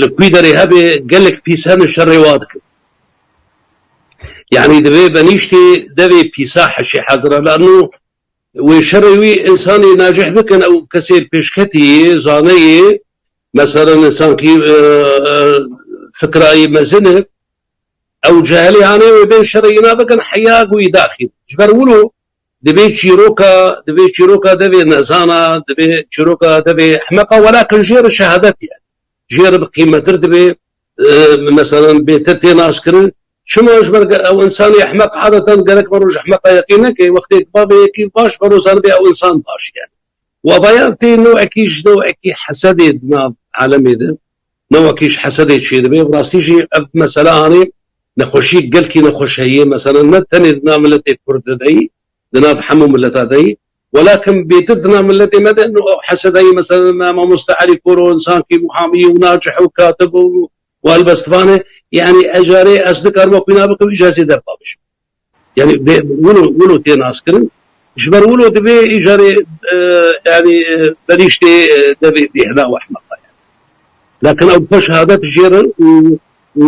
li kûî derê hebê gelek pîsa min şerê wa dikin. Yanî di vê benîştê devê pîsa heşê hezira la no wê şerê wî însanê najih bikin ew kesê pêşketî yê, zane yê, meselan însankî fikra yê mezin e ew cehelê anê wê bên şerê înan bikin heya ku wî daxîn. Ji ber wilo Divê çîroka divê çîroka devê nezana, divê çîroka devê ehmeqa welakin jê re şehadet ye. Jê re bi qîmetir divê meselan bêtir tê naskirin. Çima ji ber ew însanê ehmeq adetan gerek vero ji ehmeqa yekê neke. Wextê ku bavê yekî baş vero zanibê ew însan baş ye. Wabayan tê newekî ji newekî hesedê di nav alemê de. Ne wekî ji hesedê çêdibe bi rastî jî ev mesele anî nexweşiyek gelkî nexweş heye mesele ne tenê di nav miletê kurd de deyî di nav hemû mileta deyî welakin bêtir di nav miletê me de no ew heseda yê mesele me mamoste Elî Koro insankî muhamî û nacih û katib û helbestvan e yanî ejarê ez dikarim wekî nabikevî ji hesê derpaviş. Yanî bê wilo wilo tê naskirin. Ji ber wilo divê îcarê yanî benîştê devê bêhna û ehmeqa ye. Lakin ew xwe şehadet jêrin û û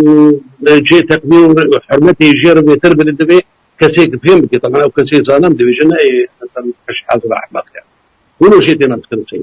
cihê teqdîr û hurmetê jêrin wêtir bidin divê kesê ki fêm bike teman ew kesê zanem dibêje ne ê eser û qij hezir û ehmeq ye. Wilo jê tê naskirin sey.